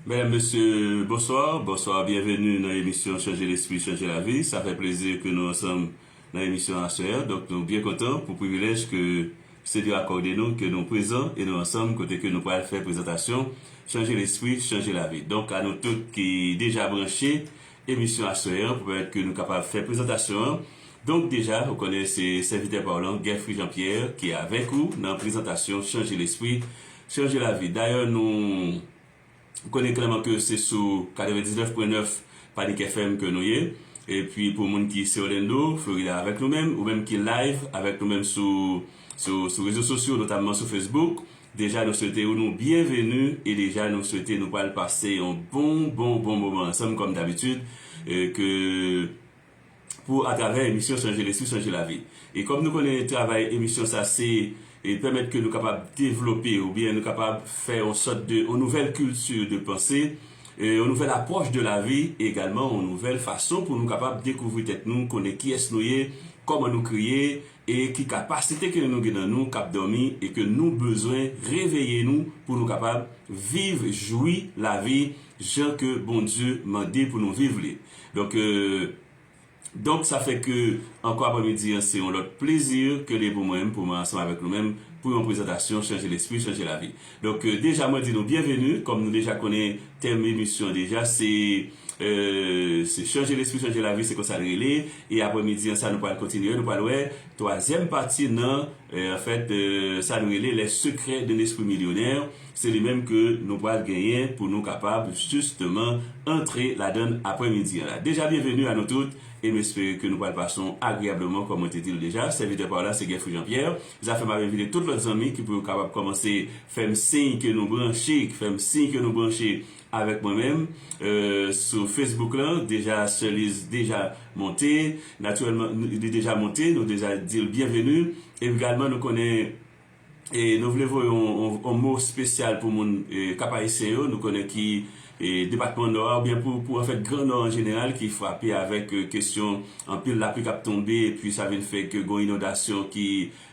Mèdam, Mesye, Bonswa, Bonswa, Byenveni nan emisyon Chanje Lespri, Chanje Lavi Sa fè plezi ke nou ansanm nan emisyon aswè a donk nou byen kontan pou privilèj ke Senyè akòde nou ke nou prezan e nou ansanm kote ke nou pral fè prezantasyon Chanje Lespri, Chanje Lavi. Donk a nou tout ki deja branche emisyon aswè an pou pèmèt ke nou kapab fè prezantasyon an donk deja ou konnen se sèvitè pa w lan Guerfri Jean Pierre ki avèk ou nan prezantasyon Chanje Lespri, Chanje Lavi. Dayè nou. Ou konnen klèman ke se sou 99 pwen 9 Panic FM ke nou ye. E pwi pou moun ki se Orlando, Florida avèk nou menm, ou menm ki live avèk nou menm sou sou rezo sosyo notamman sou Facebook, deja nou swete ou nou byenveni e deja nou swete nou pwal pase yon bon bon bon moman ansanm kòm dabitid e ke pou atravè emisyon chanje lespri chanje lavi e kòm nou konnen travay emisyon sa se pèmèt ke nou kapab devlope oubyen nou kapab fè yon sòt de yon nouvèl kilti de panse yon nouvèl apwòch de lavi e egalman yon nouvèl fason pou nou kapab dekouvri tèt nou konnen kiyès nou ye kòman nou kreye e ki kapasite ke nou gen nan nou kap dòmi e ke nou bezwen reveye nou pou nou kapab viv jwi lavi jan ke Bondye mande pou nou viv li. Donk, donk sa fè ke ankò aprèmidi an se yon lòt plezi ke li pou mwen pou mwen ansanm avèk nou menm pou yon prezantasyon Chanje Lespri, Chanje Lavi. Donk, deja mwen di nou byenveni, kòm nou deja konnen tèm emisyon an deja se, se Chanje Lespri, Chanje Lavi se konsa l rele e aprèmidi an sa nou pral kontinye, nou pral wè twazyèm pati nan, anfèt, sa nou rele Les Secrets d'un Esprit Millionnaire. Se li menm ke nou pral genyen pou nou kapab jisteman antre ladann aprè midi an la. Deja byenveni a nou tout e m espere ke nou pral pase w agreyableman kòm mwen te di l deja. Sèvitè pa w la se Guerfou Jean Pierre. Zafè m ap envite tout lòt zanmi ki pou yo kapab kòmanse fè m siy ke nou branche, k fè m siy ke nou branche avèk mwen menm sou Facebook lan. Deja Sè Liz deja monte, natirèlman li deja monte, nou deja di l byenveni. Egalman nou konnen. E nou vle voye yon mo spesyal pou moun Kap Ayisyen yo, nou konnen ki depatman Nò a oubyen pou anfèt gran Nò an jeneral ki frape avèk kesyon anpil lapli kap tonbe epi sa vin fè ke gon inondasyon ki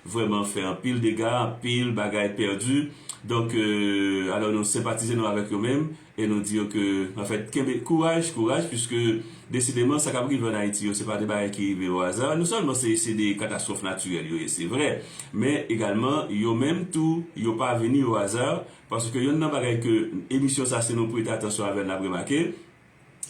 vrèman fè anpil dega, anpil bagay pèdi. Donk, alò nou senpatize nou avèk yo menm. E nou di yo ke, anfèt, kenbe, kouraj, kouraj, puiske, desideman, sa k ap rive an Ayiti yo, se pa de bagay ki rive o aza. Non sèlman se se de katastwòf natirèl yo ye, se vrè, men egalman, yo menm tou, yo pa vini o aza, paske yonn nan bagay ke emisyon sa a, si nou prete atansyon avè l, n ap remake,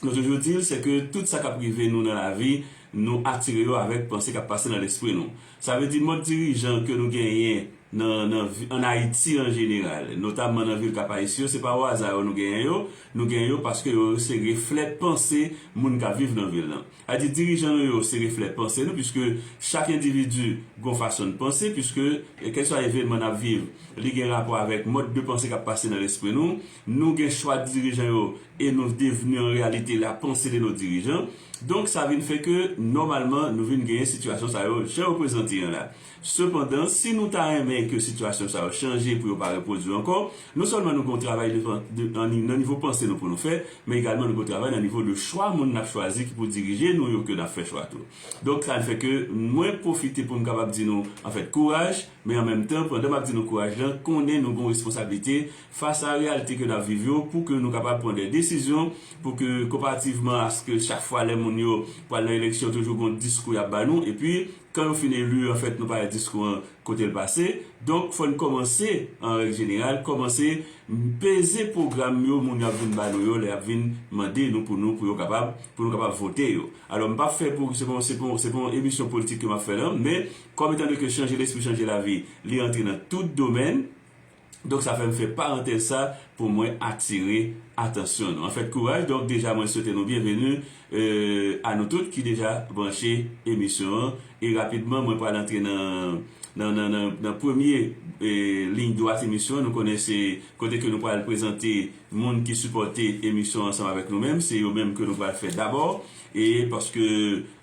nou toujou di l, se ke tout sa k ap rive nou nan lavi, nou atire yo avèk panse k ap pase nan lespri nou. Sa vle di mòd dirijan ke nou genyen nan nan an Ayiti an jeneral, notamman nan vil Cap-Haïtien yo, se pa o aza yo nou genyen yo, nou genyen yo paske yo se reflè panse moun kap viv nan vil lan. A di dirijan nou yo se reflè panse nou puiske chak endividi gon fason n panse puiske kèlkeswa evenman nap viv li gen rapò avèk mòd de panse kap pase nan lespri nou. Nou gen chwa dirijan yo e nou devni an reyalite la panse de nos dirijan. Donk sa vin fè ke nòmalman nou vin genyen sitiyasyon sa yo jan yo prezante an la. Sepandan, si nou ta renmen ke sitiyasyon sa yo chanje pou yo pa repwodui ankò, non sèlman nou gen yon travay devan nan nivo panse nou pou nou fè, men egalman nou gen yon travay nan nivo de chwa moun n ap chwazi ki pou dirije nou yo ke n ap fè chwa tou. Donk sa fè ke mwen pwofite pou m kapab di nou anfèt kouraj, men an menm tan pandan m ap di nou kouraj lan konnen nou gen yon responsablite, fas a reyalite ke n ap viv yo pou ke nou kapab pran de desizyon pou ke konparativman aske chak fwa lè moun yo pral nan eleksyon toujou gon diskou y ap ba nou epi kan yo fin eli an fèt nou pa wè diskou an kote l pase donk fò n kòmanse an règ jeneral kòmanse peze pwogram yo moun yo ap vin ba nou yo lè y ap vin mande nou pou nou pou yo kapab pou nou kapab vote yo alò m p ap fè pou se pa se pa se pa yon emisyon politik ke m ap fè la men kòm etandeke chanje lespri chanje lavi li antre nan tout domèn. Donk sa fèm fè parantèz sa pou mwen atire atansyon nou. Anfèt kouraj donk deja mwen swete nou byenveni a nou tout ki deja branche emisyon an e rapidman mwen pral antre nan nan premye liy dwat emisyon an nou konnen se kote ke nou pral prezante moun ki sipòte emisyon ansanm avèk nou menm se yo menm ke nou pral fè dabò e paske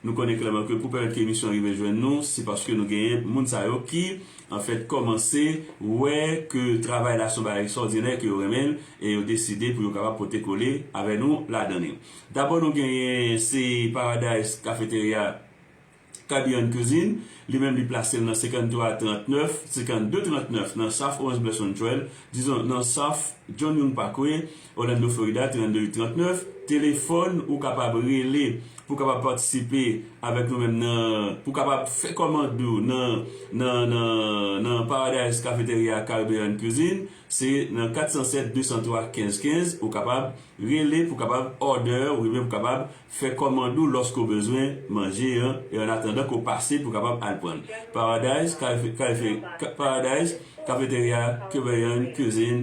nou konnen klèman ke pou pèmèt ke emisyon an rive jwenn nou se paske nou genyen moun sa yo ki an fèt kòmanse wè ke travay la se yon bagay ekstwòdinè, ke yo renmen l, e yo deside pou yo kapab pote kole avè nou ladan li. Dabò nou genyen se Paradise Cafeteria Caribbean Cuisine, li menm li plase l nan 53 39, 52 39 nan South Owens Blesson Trail, dizon nan South John Young Parkway, Orlando Florida 32 8 39 Telefòn ou kapab rele pou w kapab patisipe avèk nou menm nan pou w kapab fè kòmand ou nan nan nan nan Paradise Cafeteria Caribbean Cuisine se nan 407 203 15 15 ou kapab rele pou w kapab order ou byen pou w kapab fè kòmand ou lòske w bezwen manje an e an atandan ke w pase pou w kapab al pran l Paradise Cafeteria Caribbean Cuisine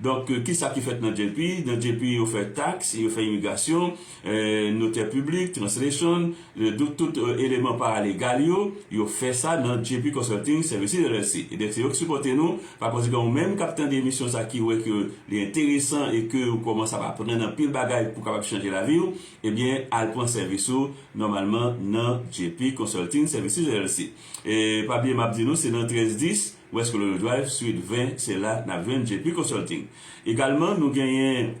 Donk ki sa ki fèt nan JP? Nan JP yo fè tax, yo fè imigrasyon, notè piblik, translation, donk tout eleman paralegal yo, yo fè sa nan JP Consulting Services LLC. Ebyen se yo ki sipòte nou, pa konsekan ou menm k ap tande emisyon sa ki wè ke li enteresan e ke ou kòmanse ap aprann anpil bagay pou kapab chanje lavi ou, ebyen al pran sèvis ou nòmalman nan JP Consulting Services LLC. E pa bliye m ap di nou se nan 13 10. West Colonial Drive, Suite 20, se la n ap jwenn JP Consulting. Egalman, nou genyen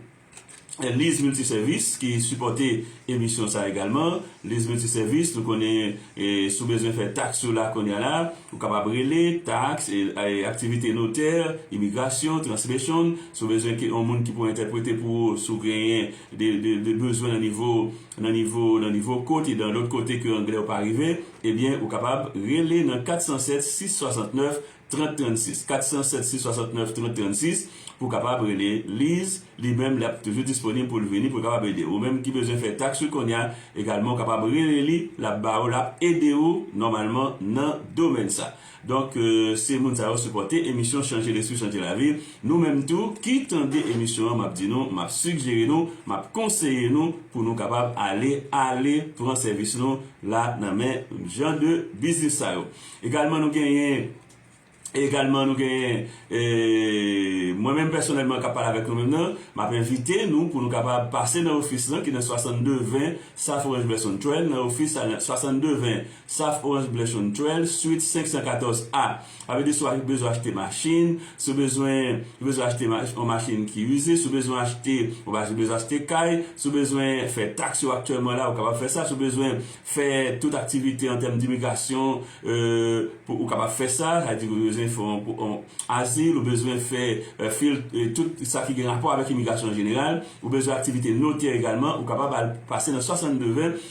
Liz Multiservis ki sipòte emisyon sa egalman. Liz Multiservis, nou konnen si w bezwen fè taks ou la kounye a la, ou kapab rele, taks, aktivite notè, imigrasyon, translation, si w bezwen yon moun ki pou entèprete pou ou, si w genyen de bezwen nan nivo. Nan nivo nan nivo kot e dan lôt kote ke anglè ou pa rive, ebyen ou kapab rele nan 407 669 30 36, 407 669 30 36 pou w kapab rele Liz, li menm li ap toujou disponib pou l vini pou l kapab ede w. Ou menm ki bezwen fè taks ou konnya egalman ou kapab rele li, l ap ba ou, l ap ede ou nòmalman nan domèn sa. Donk se moun sa yo sipòte emisyon chanje lespri chanje lavi nou menm tou ki tande emisyon an map di nou map sigjere nou map konseye nou pou nou kapab ale ale pran sèvis nou la nan men jan de biznis sa yo egalman nou genyen egalman nou genyen mwen menm pèsonèlman kap pale avèk nou menm nan map envite nou pou nou kapab pase nan ofis lan ki nan 62 20 South Orange Blesson Trail nan ofis sa nan 62 20 Saf Orange Blush on Trail, Suite 514 A. Sa vle di si w bezwen achte machin, si w bezwen si w bezwen achte yon machin ki ize, si w bezwen achte bon bagay, si w bezwen achte kay, si w bezwen fè taks yo aktyèlman la ou kapab fè sa, si w bezwen fè tout aktivite an tèm dimigrasyon ou kapab fè sa, sa vle di ou bezwen fè yon azil, ou bezwen fè fil tout sa ki gen rapò avèk imigrasyon an jeneral, ou bezwen aktivite notè egalman ou kapab al pase nan 62 20.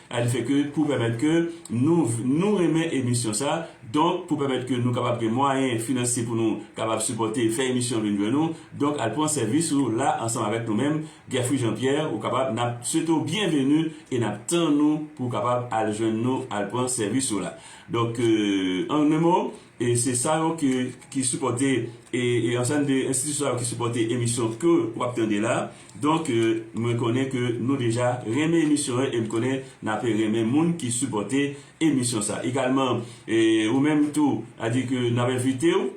Al fè ke pou pèmèt ke nou nou renmen emisyon sa donk pou pèmèt ke nou kapab gen mwayen finansye pou nou kapab sipòte fè emisyon an vin jwenn ou donk al pran sèvis ou la ansanm avèk nou menm Guerfri Jean Pierre ou kapab nap swete w byenveni e nap tann ou pou kapab al jwenn nou al pran sèvis ou la donk an 1 mo. E se sa yo ke ki sipòte e e ansanm de enstitisyon sa yo ki sipòte emisyon ke w ap tande la. Donk mwen konnen ke nou deja renmen emisyon an e m konnen n ape renmen moun ki sipòte emisyon sa. Egalman e ou menm tou a di ke n ap envite w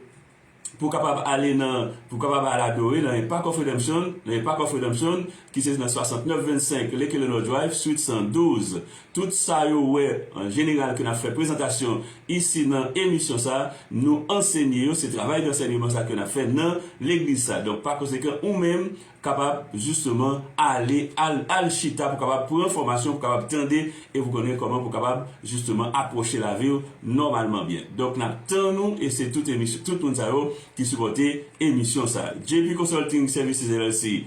pou w kapab ale nan pou w kapab al adore nan Impact of Redemption nan Impact of Redemption ki se nan 6925 Lekelelor Drive, Suite 112. Tout sa yo wè an jeneral ke nap fè prezantasyon isi nan emisyon sa, nou ansenye yo, se travay dansènyeman sa ke nap fè nan legliz sa. Donk pa konsekan ou menm kapab jisteman ale al al chita pou kapab pran fòmasyon, pou kapab tande e pou konnen kòman pou kapab jisteman apwoche laviw nòmalman byen. Donk nap tann ou e se tout emisyon tout moun sa yo ki sipòte emisyon sa. JP Consulting Services LLC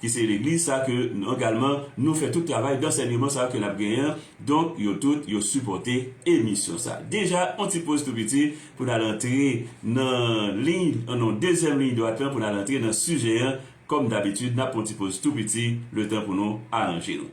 ki se legliz sa ke nou egalman nou fè tout travay dansèneman sa yo ke nap genyen an, donk yo tout yo sipòte emisyon sa. Deja on ti poz tou piti pou nal antre nan liy nan dezyèm liy dwat lan pou nal antre nan sijè an kòm dabitid nap pran on ti poz tou piti letan pou nou aranje nou.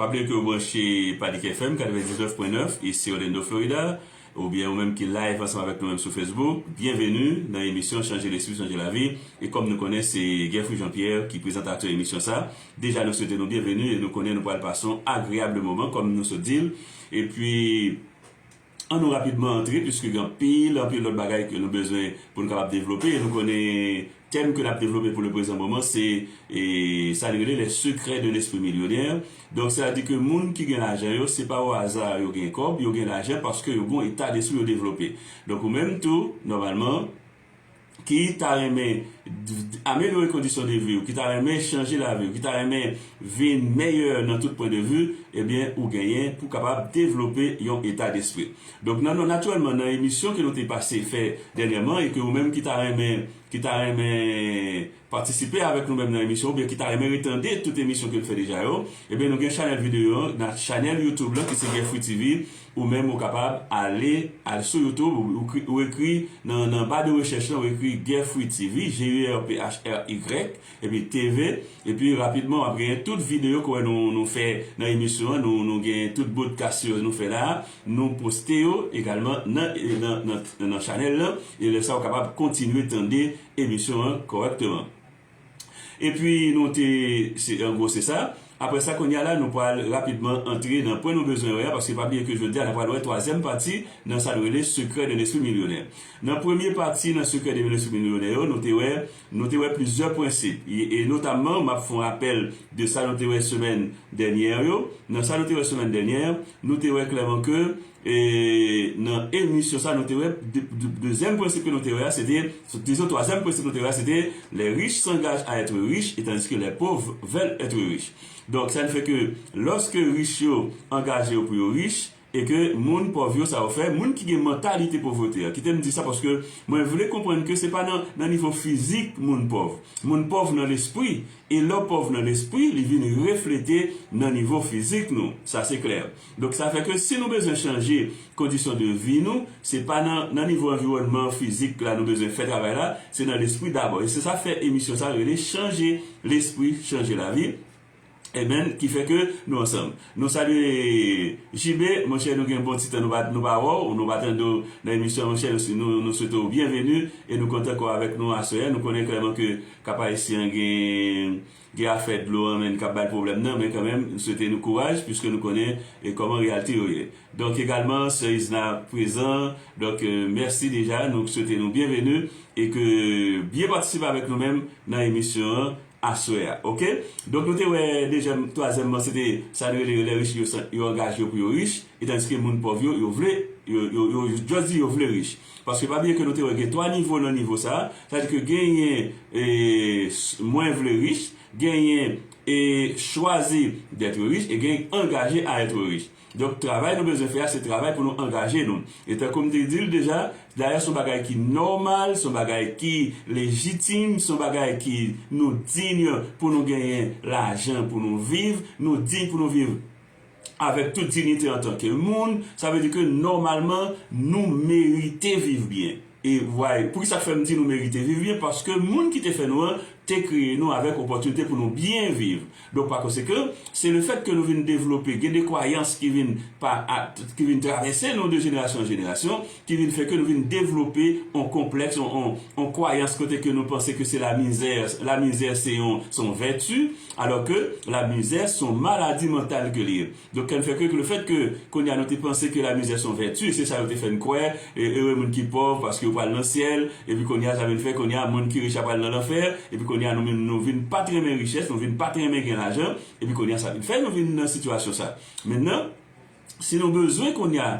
Pa bliye ke ou branche Panic FM 99.9 isi Orlando Florida ou byen ou menm ki live ansanm avèk nou menm sou Facebook byenveni nan emisyon chanje lespri chanje lavi e kòm nou konnen se Guerfri Jean Pierre ki prezantatè emisyon sa Deja nou swete nou byenveni e nou konnen nou pral pase yon agreable moman kòm nou sot di l. E pi an nou rapidman antre puiske gen anpil anpil lòt bagay ke nou bezwen pou nou kapab devlope e nou konnen tèm ke n ap devlope pou le prezan moman se sa li rele les secrets d'un esprit millionnaire. Donk sela di ke moun ki gen lajan yo se pa o aza yo gen kòb, yo gen lajan paske yo gen yon eta despri yo devlope. Donk ou menm tou nòmalman. ki ta renmen amelyore kondisyon de vi w, ki ta renmen chanje lavi w, ki ta renmen vin meyè nan tout pwen de vi, ebyen ou genyen pou kapab devlope yon eta despri. Donk nan nou natirèlman nan emisyon ke nou te pase fè dènyèman e ke ou menm ki ta renmen ki ta renmen patisipe avèk nou menm nan emisyon oubyen ki ta renmen retande tout emisyon ke n fè deja yo, ebyen nou gen chanèl videyo an nan chanèl youtube lan ki se Guerfouy TV ou menm ou kapab ale al sou youtube ou ekri nan nan ba de rechèch lan ou ekri Guerfouy TV GUERPHRY epi TV epi rapidman w ap genyen tout videyo ke wè nou nou fè nan emisyon an nou nou genyen tout bodkas yo nou fè la a nou poste yo egalman nan nan nan chanèl lan e lè sa ou kapab kontinye tande. emisyon an kòrèkteman. Epi nou te, se an gwo se sa. Aprè sa kounye a la nou pral rapidman antre nan pwen nou bezwen wè a paske pa bliye ke jodi a n a pral wè twazyèm pati nan sa nou rele Secret d'un esprit millionnaire. Nan premye pati nan Secret d'un esprit millionnaire yo nou te wè nou te wè plizyè prensip e notamman m ap fon rapèl de sa nou te wè semèn dènyè yo. Nan sa nou te wè semèn dènyè nou te wè klèman ke E nan emisyon sa nou te wè dezyèm prensip ke nou te wè a se te, dizo twazyèm prensip nou te wè a se te les riches s'engagent à être riches et tandis que les pauvres veulent être riches. Donk sa ki fè ke lòske rich yo angaje yo pou yo rich e ke moun pòv yo sa yo fè, moun ki gen mantalite povrete an, kite m di sa paske mwen vle konprann ke se pa nan nivo fizik moun pòv. Moun pòv nan lespri e lè w pòv nan lespri li vin reflete nan nivo fizik nou. Sa se klè. Donk sa fè ke si nou bezwen chanje kondisyon de vi nou, se pa nan nan nivo anviwònman fizik la nou bezwen fè travay la, se nan lespri dabò. E se sa fè emisyon sa rele chanje lespri, chanje lavi. Amen ki fè ke nou ansanm. Nou salye JB, monchè nou gen bon ti tan nou pa nou pa wè w, nou pa tande w nan emisyon an monchè, nou nou swete w byenveni e nou kontan ke w avèk nou aswè a. Nou konnen klèman ke Cap Haïtien gen Gen afè dlo an menn kap bay pwoblèm nan men kanmenm m swete nou kouraj pwiske nou konnen kòman reyalte yo ye donk egalman sè Isna prezan donk mèsi deja nou swete nou byenveni e ke byen patisipe avèk nou menm nan emisyon an aswè a ok donk nou te wè dezyèm twazyèmman se te sa nou rele yo lè rich yo angaje yo pou yo rich etandiske moun pòv yo yo vle yo yo jòs di yo vle rich. Paske pa bliye ke nou te wè gen 3 nivo nan nivo sa, sa di ke genyen e mwen vle rich, genyen e chwazi d'être riche e gen angaje a être riche. Donk travay nou bezwen fè a se travay pou nou angaje nou. E tankou m te di l deja, dayè son bagay ki nòmal, son bagay ki lejitim, son bagay ki nou digne pou nou genyen lajan pou nou viv, nou digne pou nou viv avèk tout dignite antanke moun, sa vle di ke nòmalman nou merite viv byen. E why? Poukisa k fè m di nou merite viv byen? Paske moun ki te fè nou an te kreye nou avèk opòtinite pou nou byen viv. Donk pa konsekan, se le fèt ke nou vin devlope, gen de kwayans ki vin pa, ki vin travèse nou de jenerasyon an jenerasyon, ki vin fè ke nou vin devlope on konplèks, on, on, on kwayans kote ke nou panse ke se la mizè, la mizè se yon, se yon vèti, alò ke la mizè se yon maladi mantal ke li ye. Donk kè n fè ke, ke le fèt ke kounye a nou te panse ke la mizè se yon vèti, se sa yo te fè n kwè, e ere moun ki pòv paske yo pral nan syèl, epi kounye a sa vin fè kounye a moun ki rich a pral nan lanfè, epi kounye a nou menm nou vin pa t renmen richès, nou vin pa t renmen gen lajan, epi kounye a sa vin fè nou vin nan sitiyasyon sa. Mentnan. si nou bezwen kounye a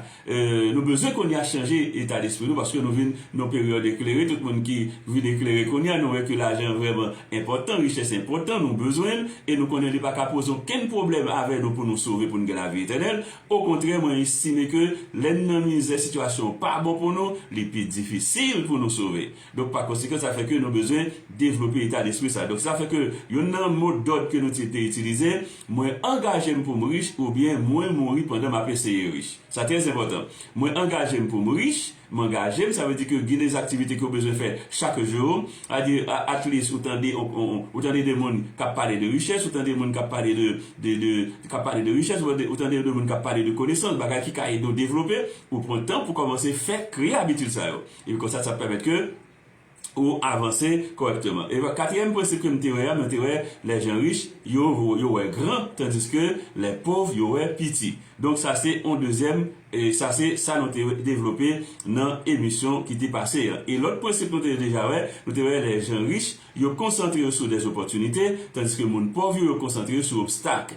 nou bezwen kounye a chanje eta despri nou paske nou vin nan peryòd eklere tout moun ki vin eklere kounye a nou wè ke lajan vrèman enpòtan richès enpòtan nou bezwen l e nou konnen li pa ka poze okenn pwoblèm avè nou pou nou sove pou nou gen lavi etènèl okontrè mwen estime ke lè n nan mizè sitiyasyon an pa bon pou nou li pi difisil pou nou sove. Donk pa konsekan sa fè ke nou bezwen devlope eta despri sa. Donk sa fè ke yonn nan mo dòd ke nou te itilize, mwen angaje m pou m rich oubyen mwen mouri pandan m ap eseye rich. Sa trè enpòtan. Mwen angaje m pou m rich, m angaje m sa vle di ke gen des aktivite ke ou bezwen fè chak jou, a di at least ou tande ou tande de moun k ap pale de richès, ou tande moun k ap pale de de k ap pale de richès, ou tande de moun k ap pale de konesans, bagay ki ka ede ou devlope, ou pran tan pou kòmanse fè kreye abitid sa yo. Epi konsa sa ap pèmèt ke ou avanse kòrèkteman. Epi katriyèm prensip ke m te wè a, mwen te wè lè jan rich yo, yo wè gran, tandiske lè pòv yo wè piti. Donk sa se yon dezyèm, sa se sa nou te devlope nan emisyon ki te pase an. E lòt prensip nou te deja wè, nou te wè lè jan rich yo konsantre yo sou dezopòtinite, tandiske moun pòv yo, yo konsantre yo sou obstak.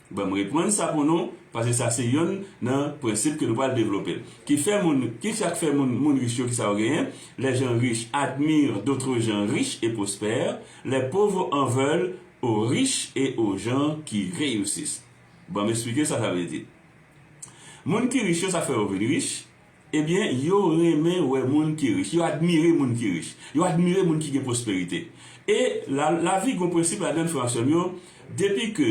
Banm reprann sa pou nou, pase sa se yonn nan prensip ke nou pral devlope. Ki fè moun, ki sak fè moun, moun rich yo ki sa yo genyen? Les gens riches admirent d'autres gens riches et prospères, les pauvres en veulent aux riches et aux gens qui réussissent. Banm esplike sa sa vle di. Moun ki rich yo sak fè yo vin rich? Ebyen, yo renmen wè moun ki rich. Yo admire moun ki rich. Yo admire moun ki gen pwosperite. E, la, lavi gen yon prensip ladan l, frè ak sè m yo, depi ke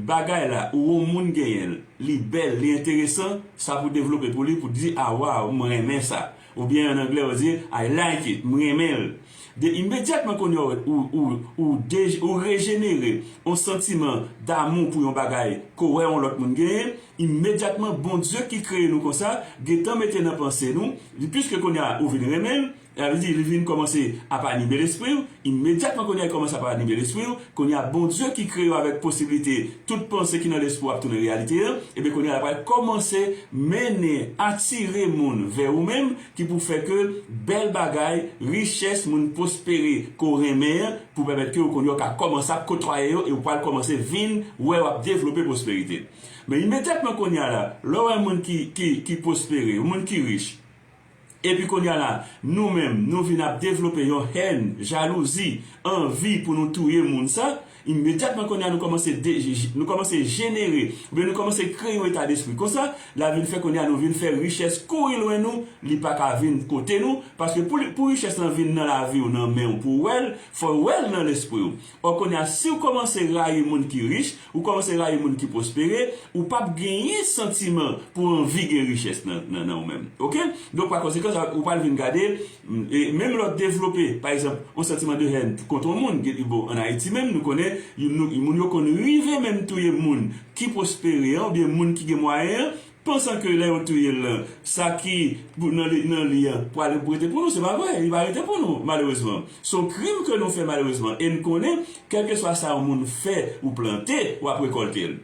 bagay la ou yon moun genyen l, li bèl, li enteresan, sa pou devlope pou li pou di, a, waw, m renmen sa. Oubyen, an anglè, yo di, I like it, m renmen l. 2 imedyatman kounye a ou rejenere yon santiman damou pou yon bagay ke w wè yon lòt moun genyen, imedyatman Bondye ki kreye nou konsa gentan mete nan panse nou li piske kounye a ou vin renmen l sa vle di li vin kòmanse ap anime lespri w imedyatman kounye a li kòmanse ap anime lespri w kounye a Bondye ki kreye w avèk posiblite tout panse ki nan lespri w ap tounen reyalite ebyen kounye a la pral kòmanse mennen atire moun vè ou menm Ki pou fè ke bèl bagay, richès moun pwospere ke w renmen an pou pèmèt ke w kounye a w ka kòmanse ap kotwaye yo e w pral kòmanse vin wè w ap devlope pwosperite. Men imedyatman kounye a la, lè w wè moun ki ki ki pwospere, moun ki rich, epi kounye a la nou menm nou vin ap devlope yon hèn, jalouzi, anvi pou nou touye moun sa, Imedyatman kounye a nou kòmanse de, nou kòmanse jenere, oubyen nou kòmanse kreye yon eta despri konsa, la vin fè kounye a nou vin fè richès kouri lwen nou, li pa ka vin kote nou, paske pou li, pou richès lan vin nan lavi w, nan men w, pou w wè l, fò w wè l nan lespri w. Ò kounye a si w kòmanse rayi moun ki rich, ou kòmanse rayi moun ki pwospere, ou p ap genyen santiman pou w anvi gen richès nan, nan ou menm. Ok? Donk pa konsekans, ou pral vin gade Menm lè w devlope, pa egzanp, yon santiman de hèn kont yon moun, bon, ann Ayiti menm, nou konnen youn, moun yo konn rive menm touye moun ki pwospere an oubyen moun ki gen mwayen an, pansan ke lè yo touye l lan, sa ki nan li an pral rete pou nou. Se pa vre, li pa rete pou nou, malerezman. Se yon krim ke nou fè, malerezman, e n konnen, kèlkeswa sa yon moun fè ou plante, w ap rekòlte l.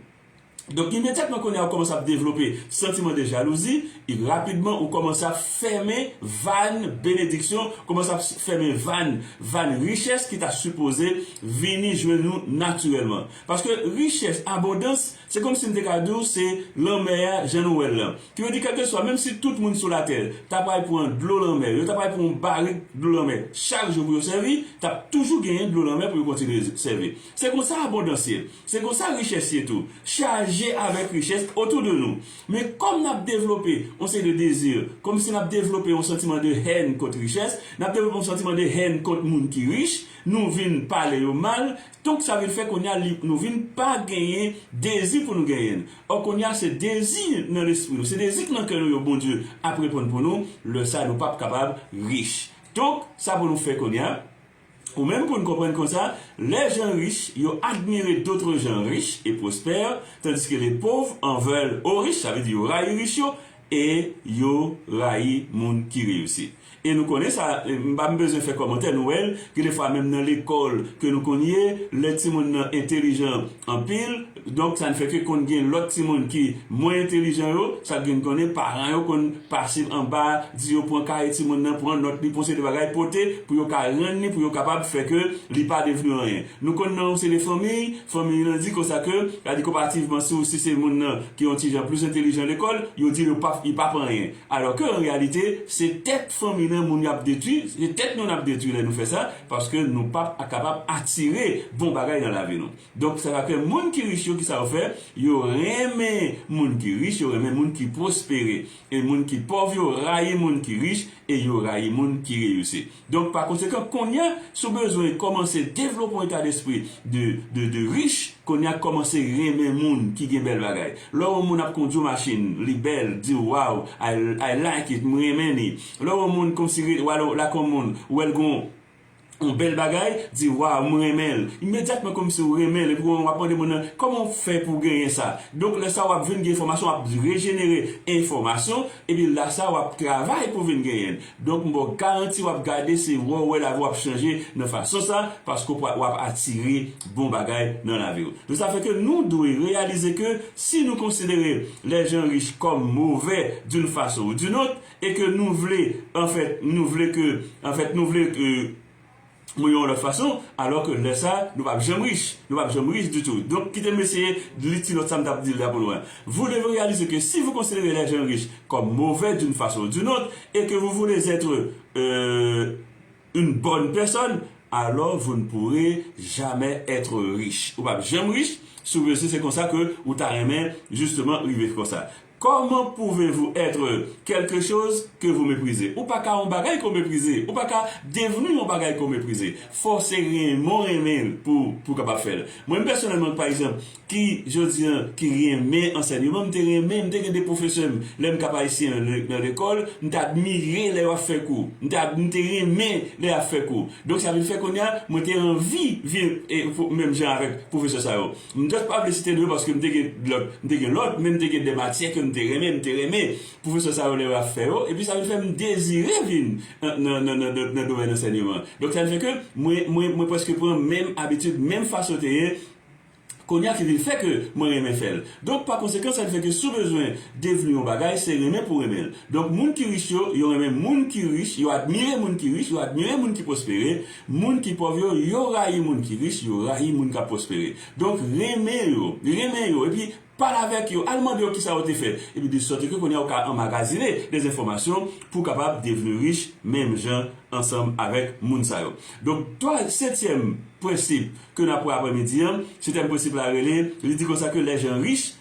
Donk imedyatman kounye a ou kòmanse ap devlope santiman de jalouzi, e rapidman ou kòmanse ap fèmen vàn benediksyon, kòmanse ap fèmen vàn, vàn richès ki ta sipoze vini jwenn ou natirèlman. Paske richès, abondans, se kòmsi m te ka di w se lanmè a jan nou wè l lan. Ki vle di kèlkeswa, menm si tout moun sou latè ta pral pran dlo lanmè, yo ta pral pran yon barik dlo lanmè chak jou pou yo sèvi, t ap toujou genyen dlo lanmè pou yo kontinye sèvi. Se konsa abondans ye. Se konsa richès ye tou. Chaje avèk richès otou de nou. Men kòm n ap devlope yon seri de dezi, kòm si n ap devlope yon santiman de haine kont richès, n ap devlope yon santiman de haine kont moun ki rich, nou vin pale yo mal, donk sa vin fè kounye a li, nou vin pa genyen dezi pou nou genyen l. Ò kounye a se dezi nan lespri nou, se dezi ki nan kè nou yo Bondye ap reponn pou nou, lè sa nou p ap kapab rich. Donk sa pou nou fè kounye a? Ou menm pou n konprann konsa, les gens riches yo admire d'autres gens riches et prospères, tandis que les pauvres en veulent aux riches, sa vle di yo rayi rich yo e yo rayi moun ki reyisi. E nou konnen sa, m pa bezwen fè kòmantè, nou wè l, gen de fwa menm nan lekòl ke nou konn ye, lè timoun nan entelijan anpil, Donk, sa n fè ke konn gen lòt timoun ki mwen entelijan yo, sa gen konnen paran yo konn pase anba, di yo pran kaye timoun nan, pran nòt li, pran seri de bagay, pote pou yo ka rann li, pou yo kapab fè ke li pa devni anyen. Nou konn nan yon seri de fanmiy, fanmiy lan di konsa ke, sa di konparativman si w si se moun nan ki yon ti jan plis entelijan lekòl, yo di yo pap, li pap anyen. Alò ke an reyalite, se tèt fanmiy lan moun y ap detwi, se tèt nou n ap detwi lè nou fè sa, paske nou pap kapab atire bon bagay nan lavi nou. Donk sa ka fè moun ki rich yo ki sa yo fè, yo renmen moun ki rich, yo renmen moun ki pwospere. E moun ki pòv yo rayi moun ki rich e yo rayi moun ki reyisi. Donk pa konsekan konnya si w bezwen kòmanse devlope yon eta despri de de de rich, konnya kòmanse renmen moun ki gen bèl bagay. Lè w wè yon moun ap kondi yon machin, li bèl, di w waw I like it, m renmen li. Lè w wè yon moun kòmsi ret wale lakay yon moun, ou wè l gen yon. Yon bèl bagay, di waw m renmen l. Imedyatman kòmsi w renmen l epi w ap mande moun nan kòman w fè pou w genyen sa. Donk lè sa w ap vin gen enfòmasyon, w ap rejenere enfòmasyon epi la sa w ap travay pou w vin genyen l. Donk m ba w garanti w ap gade se wè w wè lavi w ap chanje nan fason sa paske w ap atire bon bagay nan lavi w. Donk sa fè ke nou dwe reyalize ke si nou konsidere lè jan rich kòm movè d'une façon ou d'une autre, E ke nou vle, an fèt, nou vle ke, an fèt, nou vle ke mwen yon lòt fason, alò ke lè sa a, nou pap janm rich. Nou pap janm rich ditou. Donk, kite m eseye li ti nòt sa m t ap di l la pou nou an. Vous devez réaliser que si vous considérez les gens riches comme mauvais d'une façon ou d'une autre et que vous voulez être une bonne personne, alors vous ne pourrez jamais être riche. Ou pap janm rich si w panse se konsa ke ou ta renmen justement rive konsa. Comment pouvez-vous être quelque chose que vous méprisez? Ou pa ka yon bagay ke w meprize. Ou pa ka devni yon bagay ke w meprize. Fò w se renmen w renmen l pou w kapab fè l. Mwen menm pèsonèlman pa egzanp ki jodi an ki renmen ansènyeman, m te renmen, m te gen 2 pwofesè m lè m Cap Haïtien an nan lekòl, m t admire lè yo ap fè kou. M te m te renmen lè y ap fè kou. Donk sa vin fè kounye a mwen te anvi vin menm jan avèk pwofesè sa yo. M just pa vle site nou yo paske m te gen lòt, m te gen lòt, men m te gen de matyè ke m te renmen, m te renmen pwofesè sa yo lè yo ap fè yo, epi sa vin fè m dezire vin nan domèn ansènyeman. Donk sa vin fè ke mwen, mwen, mwen prèske pran menm abitid, menm fason yo te ye kounye a ki vin fè ke mwen renmen fè l. Donk pa konsekan sa vin fè ke si w bezwen devni yon bagay se renmen pou renmen l. Donk moun ki rich yo, yo renmen moun ki rich, yo admire moun ki rich, yo admire moun ki pwospere, Moun ki pòv yo, yo rayi moun ki rich, yo rayi moun k ap pwospere. Donk, renmen yo, renmen yo, epi pale avèk yo, al mande yo kisa yo te fè, epi desòteke kounye a ou ka anmagazine dè enfòmasyon pou w kapab devni rich menm jan ansanm avèk moun sa yo. Donk, twa, setyèm prensip ke n ap wè aprèmidi an, setyèm prensip la rele, li di konsa ke lèjan rich,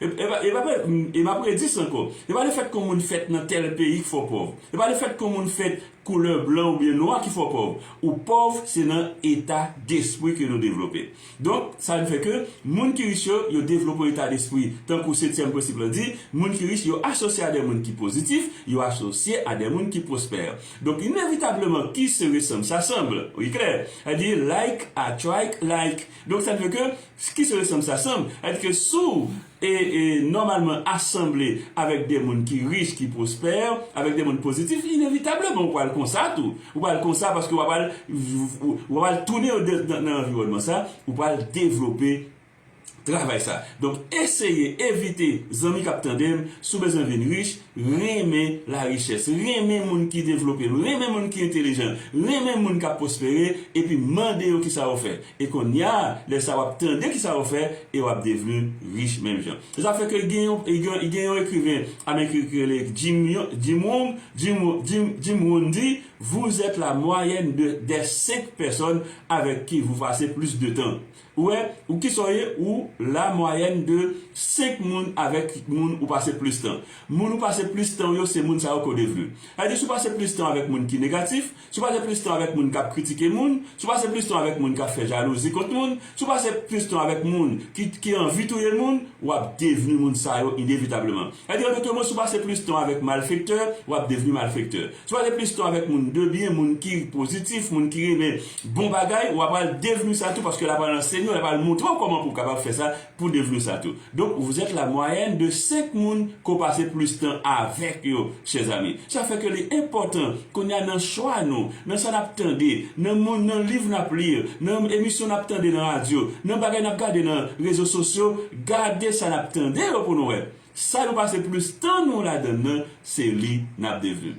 E pa e pa predis ankò. E pa lefèt ke yon moun fèt nan tèl peyi ki fè w pòv. E pa lefèt ke yon moun fèt koulè blan oubyen nwa ki fè w pòv. Ou pòv se nan eta despri ke nou devlope. Donk, sa vin fè ke moun ki rich yo, yo devlope yon eta despri, tankou setyèm prensip lan di, moun ki rich yo asosye a dè moun ki pozitif, yo asosye a dè moun ki pwospè. Donk, inevitableman, qui se ressemble s'assemble. Li klè. Sa vle di like attrike like. Donk, sa vle di ke Ki sou eksanp sa sanm? Sa di ke si w e e nòmalman asanble avèk de moun ki rich, ki pwospè, avèk de moun pozitif, inevitableman ou pral konsa tou. Ou pral konsa paske w ap al w ap al tounen yo de nan anviwònman sa, ou pral devlope travay sa. Donk eseye evite zanmi k ap tande m, si w bezwen vin rich, Renmen larichès, renmen moun ki devlope, renmen moun ki entelijan, renmen moun k ap pwospere, epi mande yo kisa yo fè. E konnya a, lè sa w ap tande kisa yo fè e w ap devni rich menm jan. Se sa k fè ke gen yon gen yon ekriven ameriken ki rele Jim yon Jim Rohn Jim Jim Jim Rohn di, Vous êtes la moyenne de des cinq personnes avec qui vous passez plus de temps. Ou wè ou kisa w ye ou la mwayèn de 5 moun avèk moun ou pase plis tan. Moun ou pase plis tan yo se moun sa yo ke w devni. Sa vle di si w pase plis tan avèk moun ki negatif, si w pase plis tan avèk moun k ap kritike moun, si w pase plis tan avèk moun k ap fè jalouzi kont moun, si w pase plis tan avèk moun ki ki anvi touye moun, w ap devni moun sa yo inevitableman. Sa vle di an dotre mo si w pase plis tan avèk malfektè, w ap devni malfektè. Si w pase plis tan avèk moun de byen, moun ki pozitif, moun ki renmen Bon bagay, wa pral devenu sa tou paske la pral ansenyew, la pral moutrew koman pou kapab fè sa pou devenu sa tou. Donc vous êtes la moyenne de 5 moun ke w pase plus tan avek yo chers amis. Sa fè ke li enpotan kounya nan chwa nou, nan sa nap tande, nan moun, nan liv nap li, nan emisyon nap tande nan radio, nan bagay nap gade nan rezo sosyo, gade sa nap tande yo pou nou wè. Sa nou pase plus tan nou ladann nan, se li nap devenu.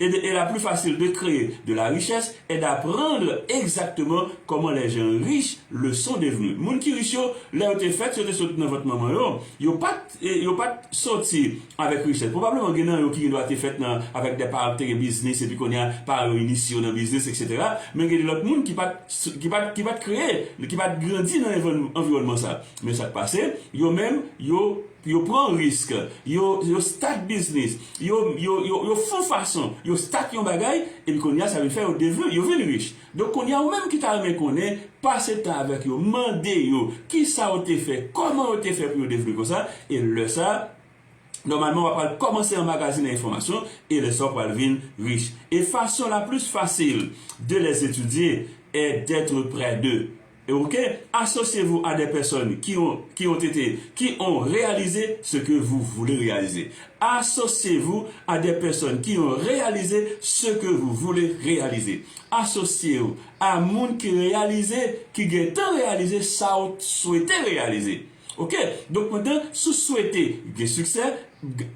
et de et la plus facile de cree de la richesse est d'apprendre exactement comment les gens riches le sont devenus moun ki rich yo lè yo te fèt yo te sot nan vant manman yo yo pat yo pat soti avèk richès probablement gen nan yo ki gen dwa te fèt nan avèk des parents ki te gen biznis epi kounye a paran yo inisye yo nan biznis etc men gen de lòt moun ki pat ki pat ki pat kreye ki pat grandi nan environnement sa men sak pase yo menm yo Yo pran risk, yo, yo start biznis, yo, yo, yo, yo fon fason, yo start yon bagay, epi kounye a sa vin fè yo devni, yo vin rich. Donk kounye a ou menm ki ta renmen konnen, pase tan avèk yo, mande yo kisa yo te fè, kòman yo te fè pou yo devni konsa, e lè sa a, nòmalman w'a pral kòmanse anmagazinen enfòmasyon, e lè sa a ou pral vin rich. E fason la plus facile de les étudier est d'être près d'eux. Ok associez vous à des personnes qui ont qui ont été qui ont réalisé ce que vous voulez réaliser Associez vous à des personnes qui ont réalisé ce que vous voulez réaliser Asosye ou a moun ki reyalize, ki gentan reyalize sa ou t swete reyalize. Ok donk mwen te sou swete gen siksè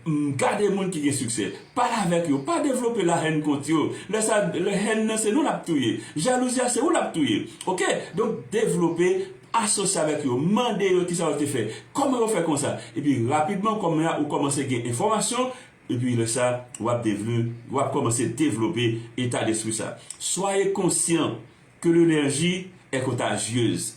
m gade moun ki gen siksè pale avèk yo pa devlope la haine kont yo lè sa lè haine nan se nou lap touye jalouzi a se ou lap touye ok donk devlope asosye avèk yo mande yo kisa yo te fè kòman yo fè konsa epi rapidman kòman ya ou kòmanse gen enfòmasyon epi lè sa wap devni wap kòmanse devlope eta despri sa soyez conscients que l'energie est contagieuse.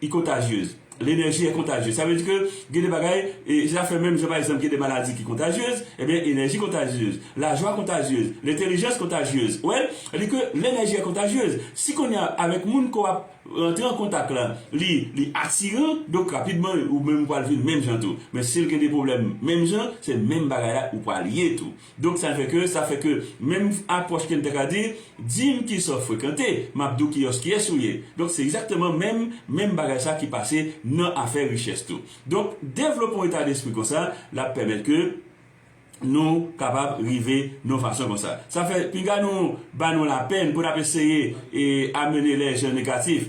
I contagieuses. L'enerji è kontajye. Sa vle di ke gen de bagay, e se ta fè menm jan pa egzanp gen de maladi ki kontajyez, ebyen enèji kontajyez, lajwa kontajyez, lentelijans kontajyez. Ou wè? Sa di ke l'enerji est contagieuse. Si kounye a avèk moun ke w ap rantre an kontak la, li li atiran, donk rapidman ou menm ou pral vin menm jan tou. Men si l gen de pwoblèm menm jan, se menm bagay la ou pral ye tou. Donk sa fè ke, sa fè ke menm apwòch ke n ta ka di, di m ki sa w frekante, m ap di w kiyòs kiyès ou ye. Donk se egzakteman menm, menm bagay sa ki pase nan afè richès tou. Donk devlope yon eta despri konsa, l ap pèmèt ke nou kapab rive nan yon fason konsa. Sa fè pinga nou ba nou lapenn pou n ap eseye e amene lèjan negatif,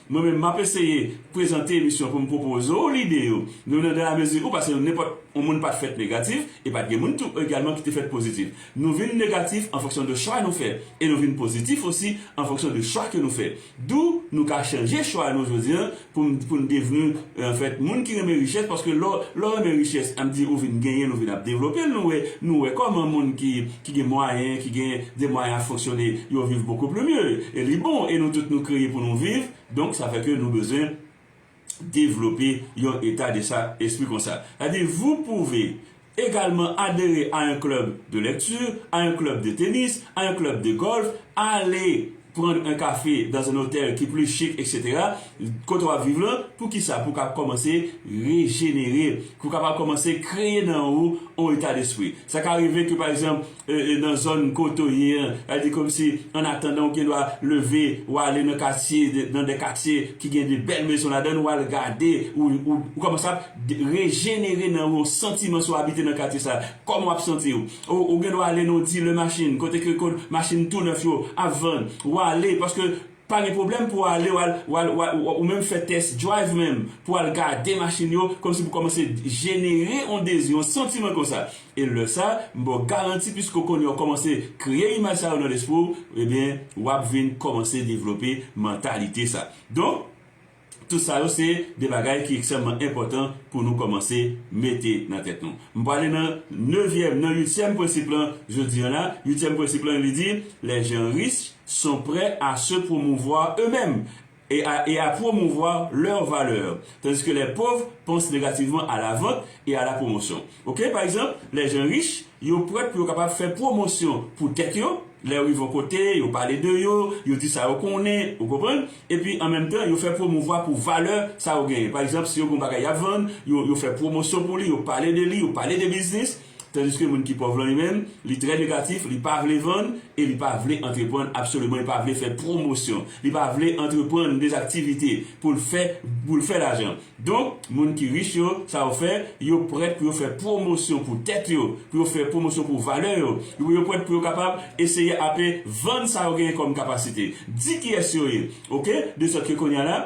Mwen menm map eseye prezante emisyon poum pwopoze w lide yo nou nan dala mezi ou pase nou nenpòt on moun pat fèt negatif e pat gen moun tou egalman ki te fèt pozitif nou vin negatif an fonksyon de chwa nou fè e nou vin pozitif osi an fonksyon de chwa ke nou fè dou nou ka chanje chwa nou jodi an poum poun devni Anfèt, moun ki renmen richès, paske lè w renmen richès, an di ou vin genyen l, ou vin ap devlope l, nou wè kòman moun ki gen mwayen, ki gen de mwayen a fonksyone, yo viv beaucoup plus mieux. E li bon, e nou tout nou kreye pou nou viv, donk sa fè ke nou bezwen devlope yon eta de sa, espri konsa. Sa vle di, vous pouvez Egalman adere a un club de lecture, a un club de tennis, a un club de golf, ale prendre un café dans un hôtel ki plus chic etc. Kote wap viv lan, pou kisa? Pou kap kòmanse rejenere, pou kapab kòmanse kreye nan ou on eta despri. Sa ka rive ke pa egzanp, nan zòn kote w ye an, sa vle di kòmsi annatandan ou gen dwa leve, ou ale nan katye, nan de katye ki gen de bèl mezon ladan l, ou al gade, ou kòmanse ap rejenere nan ou yon santiman si w abite nan katye sa a. Kòman w ap santi w? Ou gen dwa ale nan yon dilè machin kote ke machin tou nèf yo ap vann, ou ale paske Pa gen pwoblèm pou w ale w al ou menm fè test drive menm pou w al gade machin yo kòmsi pou kòmanse jenere yon dezi, yon santiman konsa. E lè sa, m ba w garanti piske w konnen w kòmanse kreye imaj sa yo nan lespri w, ebyen w ap vin kòmanse devlope mantalite sa. Donk. Tout sa yo se de bagay ki ekstrèmman enpòtan pou nou kòmanse mete nan tèt nou. M prale nan nevyèm, nan uityèm prensip lan jodi an la. Uityèm prensip lan li di, Les gens riches sont près à se promouvoir eux-mêmes et à promouvoir leurs valeurs, tandis que les pauvres pensent négativement à la vente et à la promotion. Ok pa egzanp lè jen rich yo prèt pou yo kapab fè pwomosyon pou tèt yo lè yo rive yon kote yo pale de yo yo di sa yo konnen ou konprann epi an menm tan yo fè pwomouvwa pou valè sa yo genyen pa egzanp si yo gen yon bagay yap vann yo yo fè pwomosyon pou li yo pale de li yo pale de biznis tandiske moun ki pòv lan li menm li trè negatif li pa vle vann e li pa vle antreprann absoliman li pa vle fè pwomosyon li pa vle antreprann dezaktivite poul fè poul fè lajan. Donk, moun ki rich yo, sa yo fè, yo prèt pou yo fè pwomosyon pou tèt yo, pou yo fè pwomosyon pou valè yo, yo yo prèt pou yo kapab eseye ape vann sa yo genyen kòm kapasite, di kiyès yo ye, ok, desòtke kounye a la,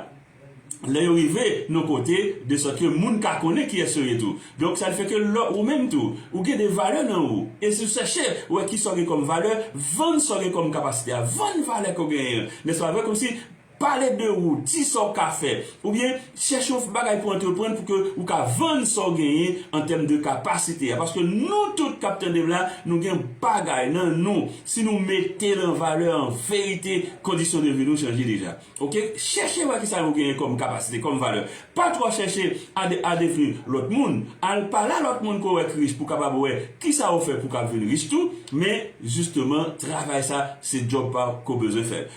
lè yo rive nan kote, desòtke moun ka konnen kiyès yo ye tou. Donk, sa fè ke lò ou menm tou, ou gen de valè nan ou, e si ou chèche wè ki sa ou gen kòm valè, vann sa ou gen kòm kapasite a, vann valè ke ou genyen an, nèspa vre, kòmsi, Pale de ou, di sa w ka fè, oubyen chèche yon bagay pou antreprann pou ke ou ka vann sa w genyen an tèm de kapasite a. Paske nou tout k ap tande m la, nou gen bagay nan nou, si nou mete l an valè an verite kondisyon de vi nou chanje deja. Ok, chèche wè kisa nou genyen kòm kapasite, kòm valè. Pa twò chèche a devni lòt moun. Al pa la lòt moun ke w wè k rich pou w kapab wè kisa ou fè pou w ka vin rich tou. Men jisteman travay sa se djòb pa w ke w bezwen fè l.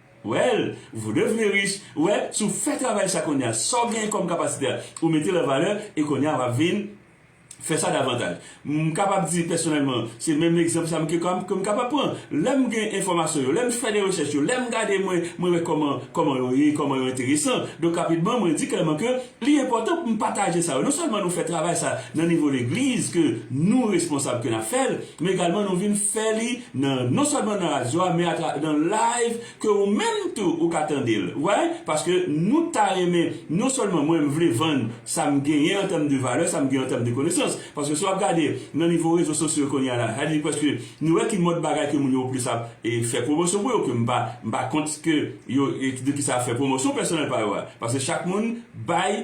Well, vous devenez riche, well, si w fè travay sa kounye a, sa w genyen kòm kapasite a, ou mete l an valè, e kounye a w ap vin fè sa davantaj. M kapab di pèsonèlman, se menm egzanp sa m ke ka, ke m kapab pran. Lè m gen enfòmasyon yo, lè m fè de rechèch yo, lè m gade mwen, mwen wè kòman, kòman yo ye, kòman yo enteresan. Donk rapidman, mwen di klèman ke Li enpòtan pou nou pataje sa yo. Non sèlman nou fè travay sa nan nivo legliz ke nou responsab ke nap fèl, men egalman nou vin fè li nan non sèlman nan radyo a men atra nan live ke ou menm tou ou ka tandel ou wè paske nou ta renmen non sèlman mwen mvle vann sam genyen an tèm de valè sam genyen an tèm de konesans paske si wap gade nan nivo rezo sosyo kounya la sa vle di preske nou wè ki mòd bagay ke moun yo plis ap fè pwomosyon pou yo ke mpa mpa kont ke yo e de ki sa fè pwomosyon pèsonèl pa yo a paske chak moun bay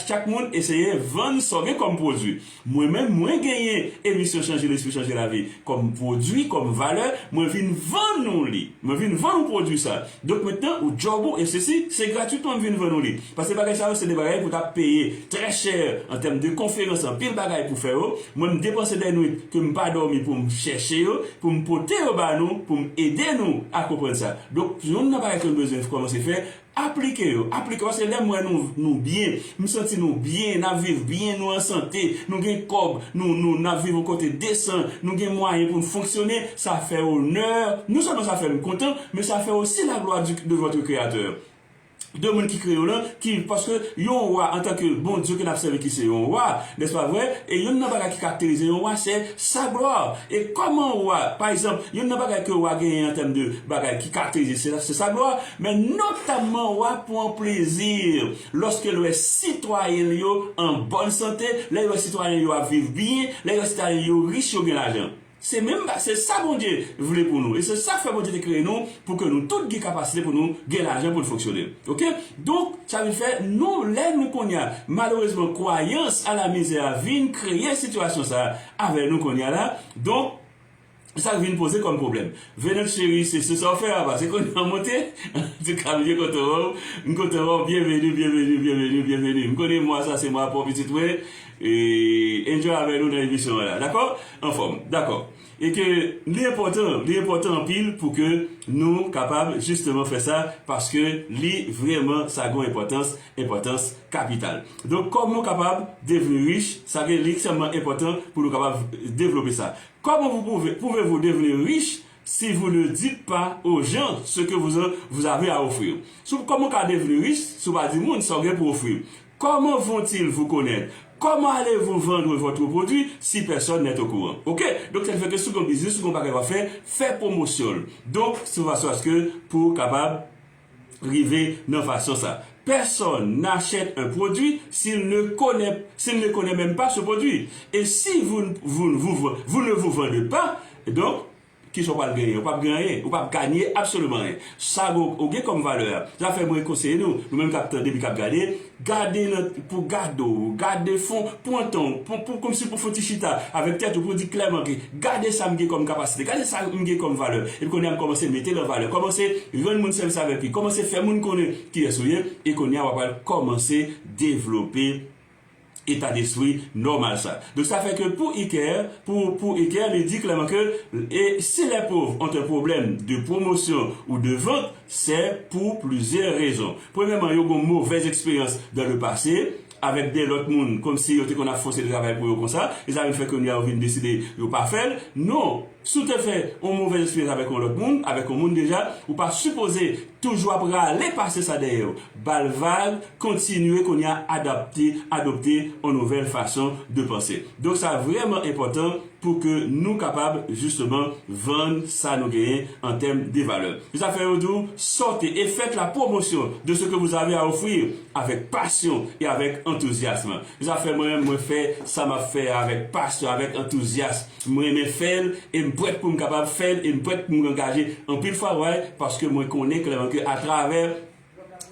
chak moun eseye vann sa w gen kòm pwodui mwen menm mwen genyen emisyon chanje lespri chanje lavi kòm pwodui kòm valè mwen vin vann ou li mwen vin vann ou pwodui sa donk mentnan ou djòb ou e sesi se gratitman m vin vann ou li paske bagay sa yo se de bagay pou ta peye trè chè an tèm de konferans anpil bagay pou fè yo mwen m depanse dè nwit ke m pa dòmi pou m chèche yo. pou m pote yo ba nou pou m ede nou a konprann sa. Donk, youn nan bagay ke nou bezwen kòmanse fè, aplike yo, aplike, paske lè m wè nou, nou byen, m santi nou byen, n ap viv byen, nou an sante, nou gen kòb, nou, nou, n ap viv yon kote desan, nou gen mwayen pou n fonksyone, sa fè onè, non sèlman sa fè m kontan, men sa fè osi laglwa di, de vòtre Kreyatè. de moun ki kreye w lan, ki, paske yon wa antanke Bondye ke n ap sèvi ki se yon wa, nèspa vre? E yonn nan bagay ki karakterize yon wa se sa glwa. E kòman wa, pa egzanp, yonn nan bagay ke wa genyen an tèm de bagay ki karakterize se, se sa glwa, men notamman wa pwan plezi lòske l wè sitwayen l yo an bòn sante, lè l wè sitwayen l yo ap viv byen, lè l wè sitwayen l yo rich, yo gen lajan. Se menm ba, se sa Bondye vle pou nou e se sak fè Bondye te kreye nou pou ke nou tout gen kapasite pou nou gen lajan pou n fonksyone ok donk sa vin fè nou lè nou konnya malerezman kwayans a la mizè a vin kreye sitiyasyon sa avè nou konnya la donk sak vin poze kòm pwoblèm Venant cheri se se sa w fè a pase konnya w monte antouka bndye kontan wè w m kontan wè w byenveni byenveni byenveni byenveni m konnen mwa sa se mwa paw pitit mwen. Enjoy avè nou nan emisyon an la dakò anfòm dakò e ke li enpòtan li enpòtan anpil pou ke nou kapab jisteman fè sa paske li vrèman sa gon enpòtans enpòtans kapital donk kòman ou kapab devni rich sa vle li ekstrèmman enpòtan pou nou kapab devlope sa kòman pou pou pouve vou devni rich si vou ne dit pa ojan se ke vou ze vou zave a ofrir sou kòman ou ka devni rich si ou pa di moun sa ou gen pou ofrir. Comment vont-ils vous connaitre? Comment allez-vous vendre votre produit si personne n'est au courant? Ok! Donk saki fè ke si w gen yon biznis, si w gen yon bagay wap fè, fè pwomosyon l. Donk se yon fason aske pou w kapab rive nan fason sa. Personne n'achète un produit s'il ne connait s'il ne connait même pas ce produit. Et si vous ne vous ne vous vous ne vous vendez pas, donk, Kisa ou pral genyen? Ou pap gen anyen. Ou pap ganye absoliman anyen. Sa ou gen kòm valè a. Se sa fè mwen konseye nou, nou menm kap tande epi kap gade, gade nan, pou gade w, gade fon, pran tan w, pou, pou kòmsi pou fon ti chita avèk tèt ou pou di klèman ke gade sa m gen kòm kapasite, gade sa m gen kòm valè, epi kounye a m kòmanse mete l an valè, kòmanse rann moun sèvis avèk li, kòmanse fè moun konnen kiyès ou ye, e kounye a w apral kòmanse devlope etadespri nòmal sa. Donk sa fè ke pou Iker, pou pou Iker li di klèman ke e si les pauvres ont un problème de promotion ou de vente, c'est pour plusieurs raisons. Premyèman yo gon movèz eksperyans dans le passé avèk de lòt moun kòmsi yo te konn ap fòse travay pou yo konsa, e sa vin fè kounya yo vin deside yo pa fè l. Non! Si w te fè yon movèz eksperyans avèk yon lòt moun, avèk yon moun deja, ou pa sipoze toujou ap rale pase sa dèyè w. Ba l vag, kontinye kounye a adapte, adopte yon nouvèl fason de panse. Donk sa vrèman enpòtan pou ke nou kapab jisteman vann sa nou genyen an tèm de valè. Se sa k fè yo di w sortez et faites la promotion de ce que vous avez à offrir avec passion et avec enthousiasme. Se sa k fè mwen menm mwen fè sa m ap fè a avèk pasyon, avèk antouzyasm. M renmen fè l e m prèt pou m kapab fè l e m prèt pou m angaje anpil fwa way paske mwen konnen klèman ke atravè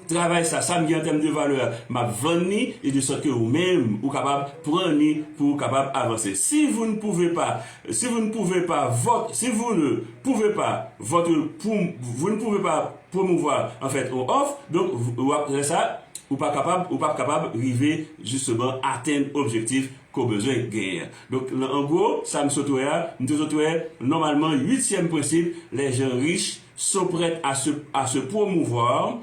travay sa, sa m gen an tèm de valè a m ap vann ni e de sòt ke ou menm ou kapab pran ni pou ou kapab avanse. Si vous ne pouvez pas si vous ne pouvez pas votre si vous ne pouvez pas votre pou vous ne pouvez pas promouvoir en fait yon òf donk ou ap lè sa ou pa kapab ou p ap kapab rive jisteman atenn objektif ke w bezwen genyen an. Donk, an gwo, sa m sot wè a, m te sot wè, nòmalman, uityèm prensip, les gens riches sont prêts à se à se promouvoir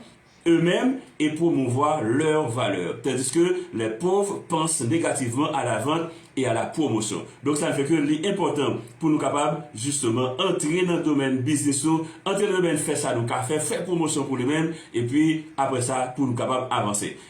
eux-mêmes et promouvoir leurs valeurs, tandis que les pauvres pensent négativement à la vente et à la promotion. Donk, sa fè ke li enpòtan pou nou kapab, jisteman, antre nan domèn biznis nou, antre nan domèn fè sa nou ka fè, fè pwomosyon pou li menm, epi, apre sa, pou nou kapab avanse.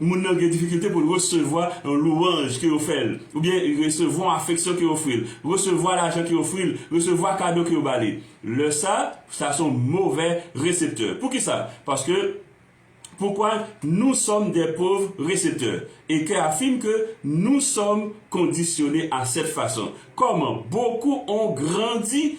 moun nan gen difikilte pou l resevwa yon lwanj ke yo fè l, oubyen resevwa yon afeksyon ke yo ofri l, resevwa lajan ke yo ofri l, resevwa kado ke yo ba li. Lè sa, sa se yon movè reseptè. Poukisa? Paske, Poukwa nous sommes des pauvres récepteurs? Eke afime ke nous sommes conditionnés à cette façon. Kòman? Beaucoup ont grandi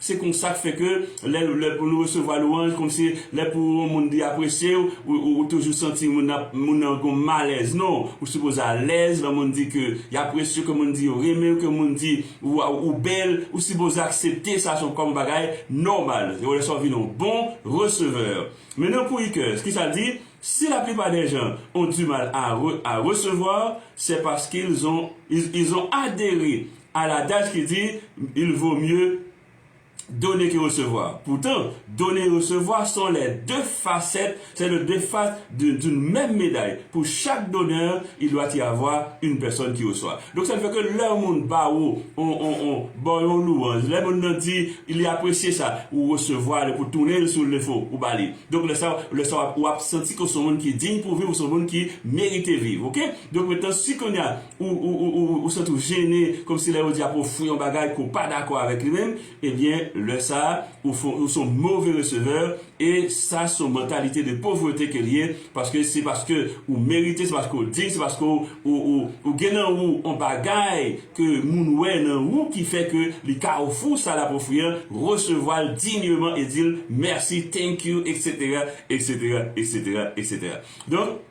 Se konsa k fè ke lè lè pou nou resevwa lwanj kòm si lè pou yon moun di apresye w ou toujou santi moun nan moun nan gon malèz non ou sipoze alèz lè moun di ke y apresye w ke moun di yo renmen w ke moun di waw ou bèl ou sipoze aksepte sa son kòm yon bagay nòmal se lè sa w vin yon bon resevè men nan pou Iker kisa l di si la plipa dè jan on di mal a a resevoir sè paske l zon ils ont adhere A l'adage ki di, Il vaut mieux donner que recevoir. Poutan, done e resevwa son lè de fasèt, sè lè de fas de d'une mèm meday. Pou chak donè, il doit y avoir une personne qui reçoit. Donk sa fè ke lè yon moun ba ou on, on, on, ba w yon louwanj, lè moun nan di li apresye sa, ou resevwa li pou tounen l si w le fo, ou ba li. Donk lè sa, lè sa w ap, ou ap santi ke w se yon moun ki digne pour vivre, ou se yon moun ki merite viv. Ok? Donk mentnan si kounye a, ou santi w jene kòmsi lè yo di ap ofri yon bagay ke w pa dakò avèk li menm, ebyen lè sa ou fon ou son move resevè e sa son mantalite de povrete ke l ye paske se paske ou merite se paske w dign se paske w ou gen nan ou yon bagay ke moun wè nan ou ki fè ke li ka ofri w sa l ap ofri an resevwa l digneman e di l mèsi thank you etc etc etc etc donk.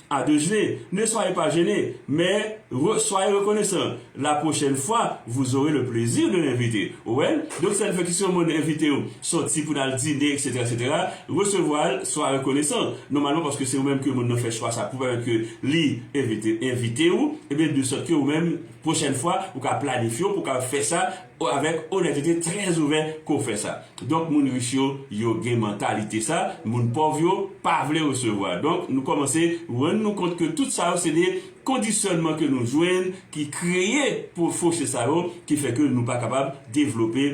A de jne, ne soyez pas gene, mais re, soyez rekonesan, la prochèn fwa vous aurez le plezi de l'invite, ou wè l, donk sèl fè ki si yon moun envite w sòti pou n al dine eksetera eksetera, resevwa l, swa rekonesan, nòmalman paske se ou menm ke moun nan fè chwa sa pou pèmèt ke li envite envite ou, ebyen de sòt ke ou menm prochèn fwa ou ka planifye w pou w ka fè sa. avèk onètete trè ouvè ke w fè sa. Donk moun rich yo, yo gen mantalite sa, moun pòv yo pa vle resevwa. Donk nou kòmanse rann nou kont ke tout sa yo se de kondisyònman ke nou jwenn ki kreye pou foche sa yo ki fè ke nou pa kapab devlope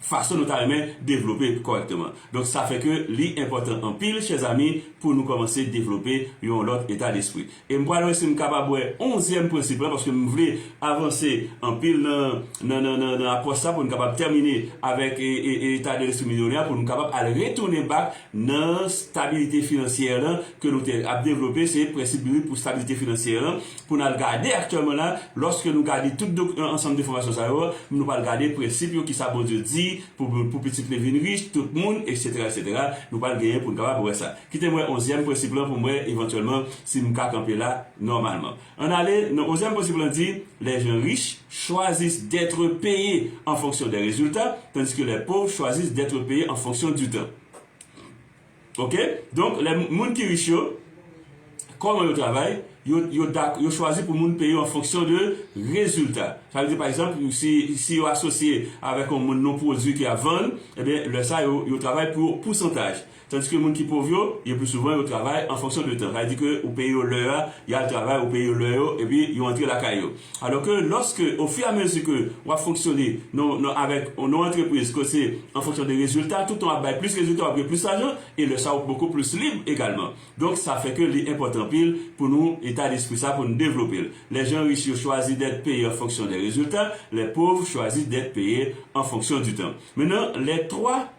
fason nou ta renmen devlope kòrèkteman. Donk sa fè ke li enpòtan anpil chèzami pou nou kòmanse devlope yon lòt eta despri. E m pral wè si m kapab wè onzyèm prensip lan, paske m vle avanse anpil nan nan apwòch sa pou n kapab tèmine avèk eta de lespri milyonè a, pou n kapab al retounen bak nan stabilite finansyè lan ke nou te ap devlope, se prensip biblik pou stabilite finansyè lan, pou n al gade aktyèlman la, lòske nou gade tout ansanm de fòmasyon sa yo, nou pral gade prensip yo, kisa Bondye di pou pitit li vin rich, tout moun, eksetera, eksetera, nou pral genyen pou n kapab wè sa. Kite m wè onzyèm prensip lan pou m wè evantyèlman si m ka kanpe la nòmalman. Ann ale nan onzyèm prensip lan di, Les gens riches choisissent d'être payes en fonction des résultats, tandis que les pauvres choisissent d'être payes en fonction du temps. Ok, donk lè moun ki rich yo, kòman yo travay, yo yo dak yo chwazi pou moun peye yo an fonksyon de rezilta. Sa vle di pa egzanp si si yo asosye avèk yon moun nan yon pwodui ke y ap vann, enben lè sa yo yo travay pou pousantaj. Tandiske moun ki pov yo, yo pi souvan yo travay an fonksyon de tan. Sa vle di ke ou peye yo lè a, y al travay, ou peye yo lè yo, epi yo antre lakay yo. Alò ke lòske ofiramezi ke w ap fonksyone nan nan avèk yon antrepriz ke se an fonksyon de rezilta, tout tan w ap bay plis rezilta w ap gen plis lajan, e lè sa ou bokou plis lib egalman. Donk sa fè ke li enpòtan anpil pou nou eta despri sa pou nou devlope l. Lèjan rich yo chwazi dèt peye an fonksyon de rezilta, lè pov chwazi dèt peye an fonksyon di tan. Mennan lè 3.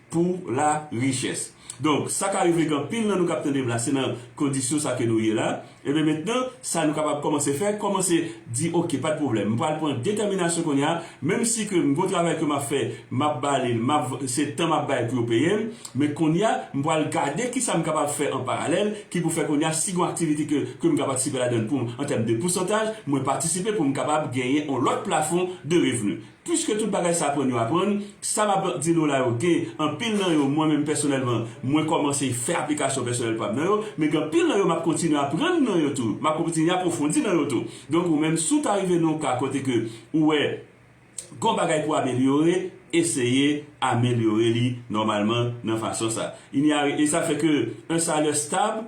pou la richès. Donk, sa ka rive ke anpil nan nou kap tandem la se nan kondisyon sa ke nou ye la, ebyen mentnan sa nou kapab kòmanse fè, kòmanse di ok pat pwoblèm m pral pran detèminasyon kounya menm si ke m gon travay ke map fè map bale l map se tan map bay pou yo peye m men kounya m pral gade kisa m kapab fè an paralèl ki pou fè kounya si gon aktivite ke ke m ka patisipe ladann pou m an tèm de pousantaj mwen patisipe pou m kapab genyen on lòt plafon de revni. Pwiske tout bagay sa aprann yo aprann, sa m ap di nou la yo gen anpil nan yo mwen menm pèsonèlman mwen kòmanse fè aplikasyon pèsonèl pa m nan yo, men gen anpil nan yo m ap kontinye aprann nan yo tou, m ap kontinye apwofondi nan yo tou. Donk ou menm si w ta rive nan yon ka kote ke ou wè gen yon bagay pou w amelyore, eseye amelyore li nòmalman nan fason sa. Inyare e sa fè ke un salaire stable.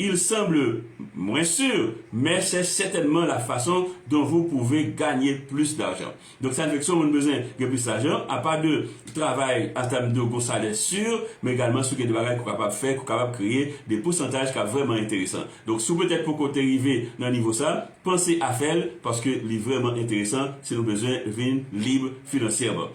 Il semble moins sur, mais c'est certainement la façon dont vous pouvez gagner plus d'argent. Donk sa vle di ke si yon moun bezwen gen plis lajan, apa de travay an tèm de gon salè sur, men egalman si w gen de bagay ke w kapab fè, ke w kapab kreye de pousantaj kap vrèman enteresan. Donk si w petèt poko te rive nan nivo sa, panse a fè l, paske li vrèman enteresan si nou bezwen vin lib finansyèman.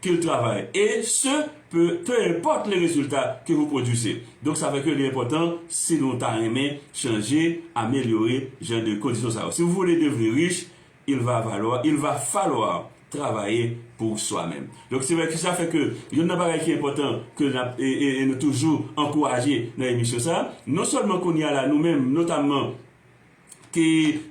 Qu'il travaille et ce pe peu importe le resultat que vous produisez. Donk sa fè ke li enpòtan si nou ta renmen chanje, amelyore jan de kondisyon sa yo. Si vous voulez devenir riche, il va valoir, il va falloir travailler pour soi-même. Donk se vre ki sa fè ke yonn nan bagay ki enpòtan ke n ap e e e nou toujou ankouraje nan emisyon sa, non sèlman kounye a la nou menm notamman, ki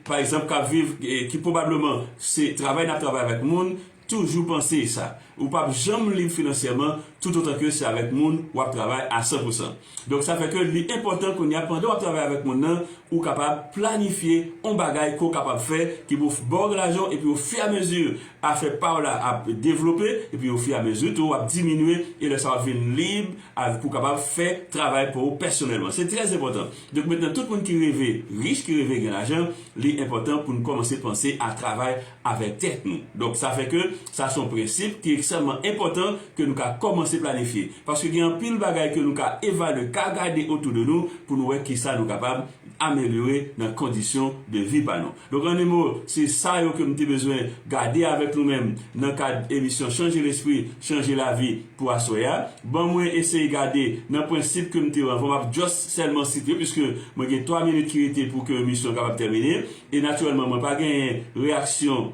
pa egzanp kap viv ki pwobableman se travay nap travay avèk moun toujou panse sa ou pap janm lib finansyèman toutotan ke se avèk moun wap travay a san pou san donk sa fè ke li enpòtan kounya pandan wap travay avèk moun nan ou kapab planifye on bagay ke w kapab fè ki pou baw lajan epi o fi a mezi afè pa w la ap devlope epi o fi a mezi tou wap diminye e lè sa wap vin lib pou w kapab fè travay pa w pèsonèlman se trè enpòtan. Donk mentnan tout moun ki reve rich ki reve gen lajan li enpòtan poun kòmanse panse a travay avèk tèt nou donk sa fè ke sa son prensip ki ekstrèmman enpòtan ke nou ka kòmanse planifye paske gen anpil bagay ke nou ka evalye ka gade otou de nou poun wè kisa nou kapab amelyore nan kondisyon de vi pa nou. Donk animo, se sa yo ke m te bezwen gade avèk nou menm nan kad emisyon Chanje Lespri, Chanje Lavi pou aswè a. Ban mwen eseye gade nan prensip ke m te anvan, m ap just sèlman site yo piske mwen gen 3 minit ki rete pou ke emisyon kapab tèmine. E natirèlman mwen pa genyen reyaksyon.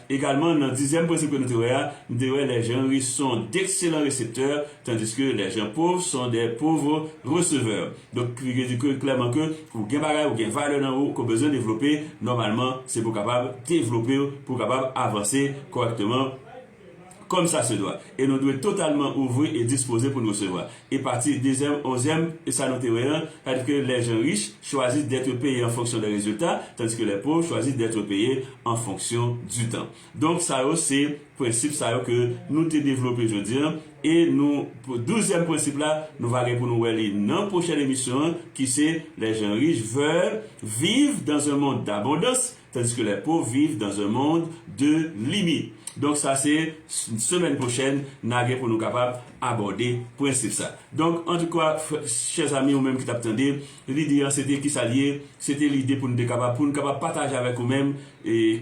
Egalman, nan dizyèm prensip ke nou te wè a, nou te wè les gens riches sont d'excellents récepteurs, tandis que les gens pauvres sont des pauvres receveurs. Donk, li vle di ke, klèman ke, ou gen bagay, ou gen valè nan ou ke w bezwen devlope, nòmalman, se pou w kapab devlope w, pou w kapab avanse kòrèkteman. kòm sa se dwa, e nou dwe totalman ouvri e dispoze pou n resevwa. E pati dezyèm, onzyèm, e sa nou te wè an, sètadi ke lè jan rich chwazi d'être payé en fonction des résultats, tandis que les pauvres choisissent d'être payés en fonction du temps. Donk sa yo se prensip sa yo ke nou te devlope jodi an, e nou pou douzyèm prensip la, nou va gen pou nou wè li nan pwochèn emisyon an, ki se les gens riches veulent vivre dans un monde d'abondance, Tandiske les pauvres vivent dans un monde de limite. Donk sa se semèn pwochèn na gen pou nou kapab abòde prensip sa. Donk antoukwa chè zami ou menm ki tap tande, lide an se te kisa l ye? Se te lide pou nou te kapab pou nou kapab pataje avèk ou menm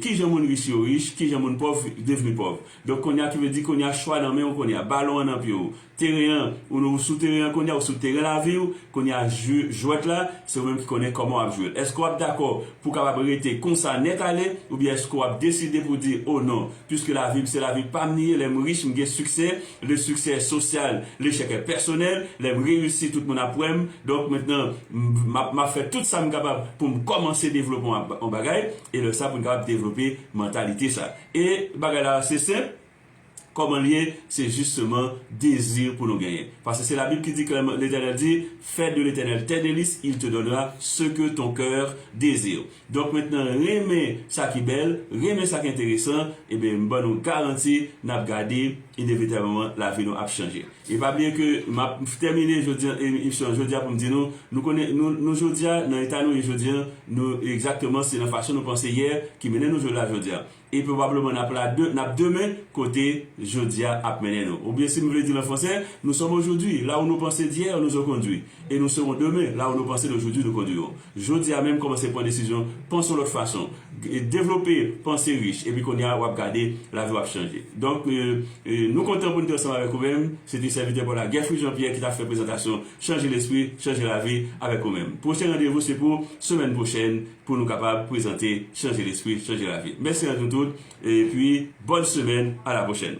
kijan moun rich yo rich, kijan moun pòv devni pòv. Donk kounye a ki vle di kounye a chwa nan men ou kounye a, balon an nan pye ou, Teren an, ou ou sou teren an kounye a, ou sou teren lavi ou, kounye a jwe jwèt la, se ou menm ki konnen kòman w ap jwe l. Èske w ap dakò pou w kapab rete konsa nèt ale, oubyen èske w ap deside pou w di, o non, piske lavi m se lavi pa m li ye, lè m rich m gen siksè, le succès est social, l'échec est personnel, lè m reyisi tout moun ap wè m, donk mentnan m ap m ap fè tout sa m kapab pou m kòmanse devlope yon bagay, e lè sa pou n kapab devlope mantalite sa. E bagay la se senp. Kòman l ye? Se jisteman dezi pou nou genyen. Paske se Labib ki di klèman, Letènèl di, Fè de Letènèl tè delis, il te donnera ce que ton cœur désire. Donk mentnan renmen sa ki bèl, renmen sa ki enteresan, eben m ban nou garanti n ap gade inevitableman lavi nou ap chanje. E pa bliye ke m ap tèmine jodi an emisyon an jodi a pou m di nou, nou konnen nou nou jodi a nan eta nou ye jodi an nou egzakteman se nan fason nou panse yè ki mennen nou jodi la jodi a. E pwobableman n ap la de, n ap demen, kote jodi a ap mennen nou. Oubyen si m vle di l an fransè, nous sommes aujourd'hui, là où nous pensions d'hier nous ont conduit, et nous serons demain, là où nous pensions d'aujourd'hui nous conduiront. Jodi a menm kòmanse pran desizyon, panse yon lòt fason, devlope panse rich, epi kounye a w ap gade lavi w ap chanje. Donk, nou kontan pou n te ansanm avèk ou menm. Se te sèvitè pè w la Guerfrid Jean Pierre ki t ap fè prezantasyon Chanje Lespri, Chanje Lavi avèk ou menm. Pwochen randevou se pou semèn pwochèn. pou nou kapab prezante chanje lespri chanje lavi mèsi annou tout epi bòn semèn a la pwochèn.